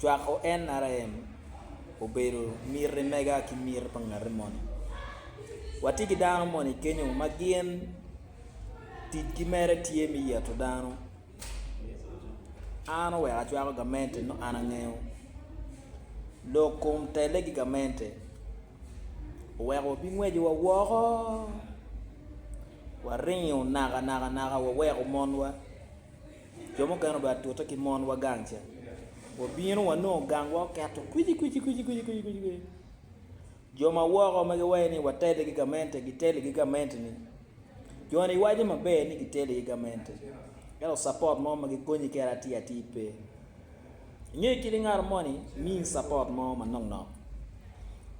Cwako NRM obedo miti mega ki miti pa ngati moni. Watye ki dano moni kenyo ma gin ticgi mere tye me yeto dano. An oweko acwako gamente nongo an angeyo lok kom telle ki gamente oweko wabingwecowa woko waringo nakanaka waweko monwa. Jo mukene obed atute ki monwa gang ca. Wabino wanongo gangwa oketo kwicikwici. Jo ma woko ma giwaco ni watele ki gamente gitele ki gamente-ni. Jo-ni giwaco maber ni gitele ki gamente ento capot mo ma gikonyi kwede atir atir pe. Inge kit ingato moni miyi support mo manok nok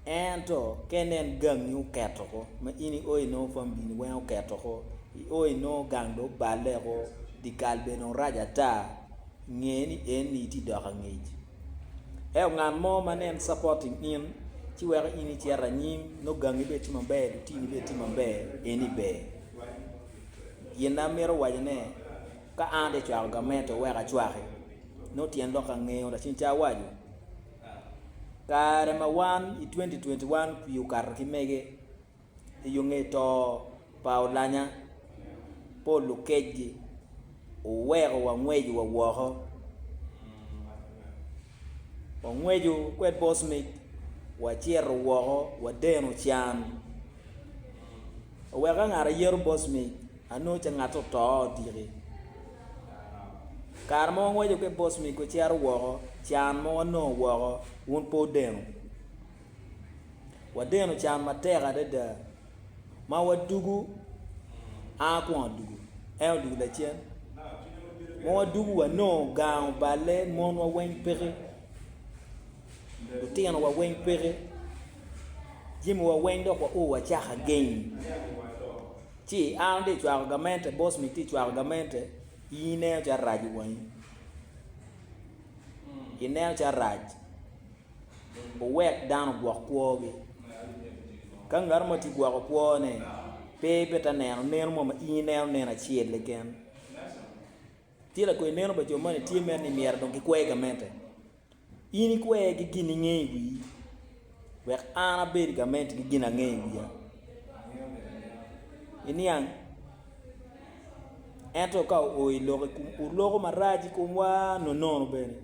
ento ka inen gangi oketo ko ma in i oo inongo family ni weng oketo ko i oo inongo gang dong obale ko dikal bene dong rac ata nge ni eni itye dok angec ento ngat mo ma nen supporting in ci weko in icito anyim nongo gangi bene tye maber lutini bene tye maber eni ber gin amito wacone Ka an atye ka cwako gamente wek acwaki, nongo tyen lok angeyo Lacen ca awaco. Kare ma wan i 2021 pii okato ki mege i yo nge to pa olanya Paul Lukecgi oweko wangweco wa woko. Wangweco kwed Bosmic wacito woko wadeno can. Oweka ngat ayero boss me anongo ce ngatte oto odiki kare mo wangeco ki boss me gucito woko can mo wanongo woko wun pe wudeno wadeno can matek adada ma wadugu a kwon odugu en odugu lacen ma wadugu wanongo gang oballe monwa weng peke. Lutinowa weng peke, jamiwa weng dok wauo wacaka geng. Ci an atye ka cwako gamente, boss mi tye ka cwako gamente, in ineno calo rac i wangi. Ineno calo rac. Wuwek dano ogwok kwogi. Ka ngat mo tye ka gwoko kwone, pe ibita neno neno mo ma in ineno neno acel keken. Tye lakwena neno pa jo moni tye mere ni myero dong gikwer gamente. In ikwer ki gin inge i wii, wek an abed gament ki gin ange i wiya. Iniang, ento ka oo i lok i kom oloko marac i komwa nonono bene.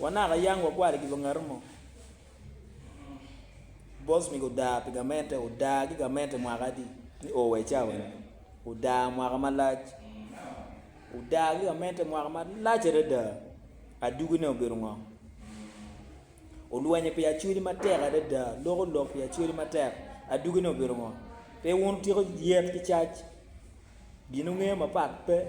Wanaka yang wakwalo i kiba ngato mo. Bos mege oda pi gamente, oda ki gamente mwaka adi ni oo wa i cawa ni. Oda mwaka malac. Odaa ki Kamente mwaka malac adada. Adugine obedo ngo? Olwenyo pi acweli matek adada, loko lok pi acweli matek. Adugine obedo ngo? Pe wun wutyeko yet ki cac. Gin wungeyo mapat pe.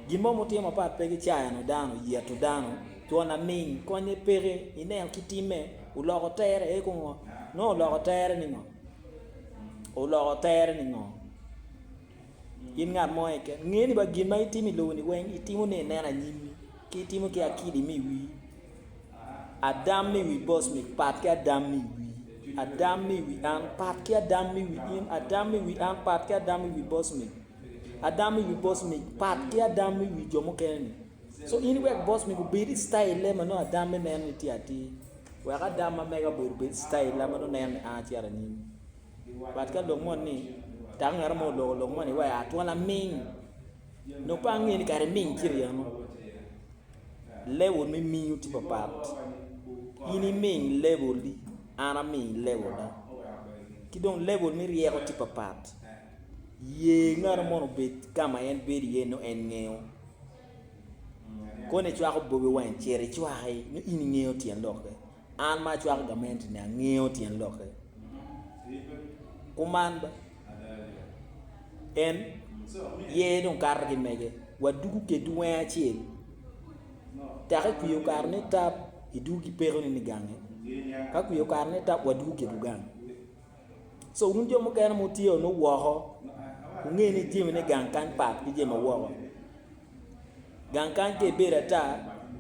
Gin mo ma wutimo mapat pe ki cayano dano, yeto dano, cwon laminy, konye peke, ineno ki timme, oloko tere eko ngo? Nongo oloko tere ni ngo? Oloko tere ni ngo? In ngat mo keken, nge ni ba gin ma itimo i lobo-ni weng itimo ni inen anyimmi, ki itimo ki akidi mi wi Adam mi wi bos mi pat ki Adam mi wi Adam mi wi an pat ki Adam mi wi in Adam mi wi an pat ki Adam mi wi bos mi Adam mi wi bos mi pat ki Adam mi wi jo mukene ni. So in iwek bos mi obed i style ma nongo Adam me neno ni tye atir. Wek Adam ma mega obed obed style ma nongo neno ni an acito anyim. But ka lok moni ni dako ngat mo oloko lok moni wa ya twal aming nongo pe ange ni kara iming ci ryem mo level me mingo tye papat in iming level ni an aming level na ki dong level me ryeko tye papat ye ngato moni obed kama en bedo iye nongo en ngeyo koni icwako bobi wang cit icwaki nongo in ingeyo tyen lokke. An ma acwako gamente-ni angeyo tyen lokke. Kuman ba. En ye dong kato ki mege. Waduku keddu wenge acel. Tek i kwiyo kare ni tap iduku ki peko ni ni gange. Ka kwiyo kare ni tap waduku keddu gang. So wun jo mukene mutye onu woko, wunge ni jemi ni gang kany pat ki jemi woko. gang kany ka ibedo ata,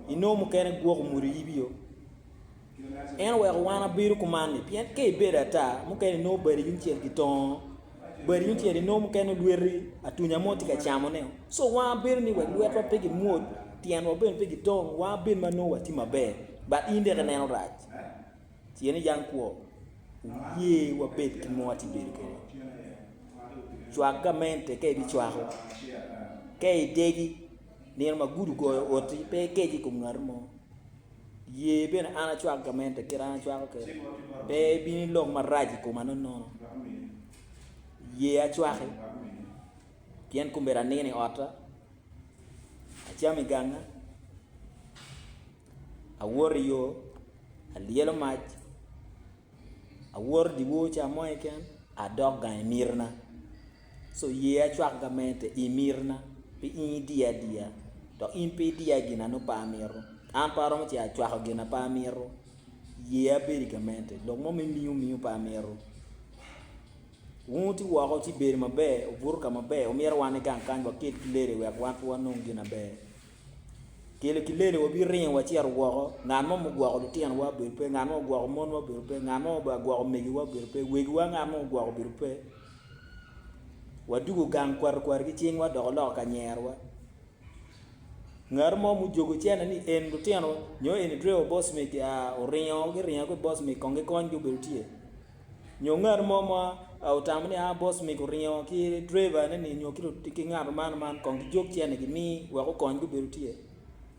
inongo mukene gwoko mwodo yibi-o. En oweko wan wabedo kuman-ni pien ka ibedo ata, mukene inongo badi yungcel gitongo, badi yungcel inongo mukene olweti, atunya mo tye ka camone. Co wan wabedo ni wek lwetwa pe gimwod, tyenwa bene pe gitong, wan wabed ma nongo watye maber but in dek ineno rac. Tye ni jang kwo oye wabed ki mo atye bedo kede cwak gamente ka ibi cwako ka idegi nino ma gudo ogoyo oti pe ikeci ikom ngat mo ye bene an acwak gamente kit an acwako kede pe ibin ilok marac ikoma nonono ye acwaki pien komedi anino i ota acam iganga. Awoto i yo, alyelo mac, awoto dye wor ca mo keken adok gang i mitina. Ci oye acwak gamente i mitina pi in idiya adiya dok in pe idiya i gin ma nongo pe amito. An pe aromo ce acwako gin ma pe amito, ye abedo i gamente lok mo me miyo miyo pe amito. Wun wuti woko ci ibedo maber, obuto ka maber, wumito wan ni gang kany wakel ki lele wek wan pe wanong gin maber. Kelo ki lele wabiringo wacito woko, ngat mo ma ogwoko lutinowa obedo pe, ngat mo ma ogwoko monwa obedo pe, ngat mo ma ogwoko megiwa obedo pe, wegiwa ngat mo ma ogwoko obedo pe. Wadwogo gang kwarikwari ki cingwa dok oloko ka nyerewa. Ngat mo ma ojogo cente ni en lutino nyo eni Drew Bosmic oringo giringa ki Bosmic kong gikonygi obedo tye. Nyo ngat mo ma otamo ni a bos mege oringo ki driver ne ni nyo ki ngat man man kong ki jog cene gi mi wek okony gubedo tye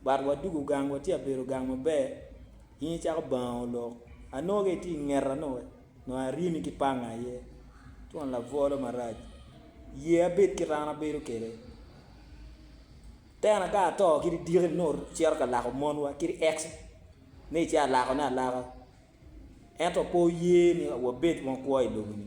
but wa dugu gang wa tye abedo gang maber in cako bango olok anongo ka itye ingeta no we nongo arimi ki panga aye twon labolo marac ye abed kit an abedo kede tena ka ato kit idiki ni nongo cito ka lako mon wa kit ex ni ci alako ne alaka. Ento pe oye ni wabed ma okwo i lobo-ni.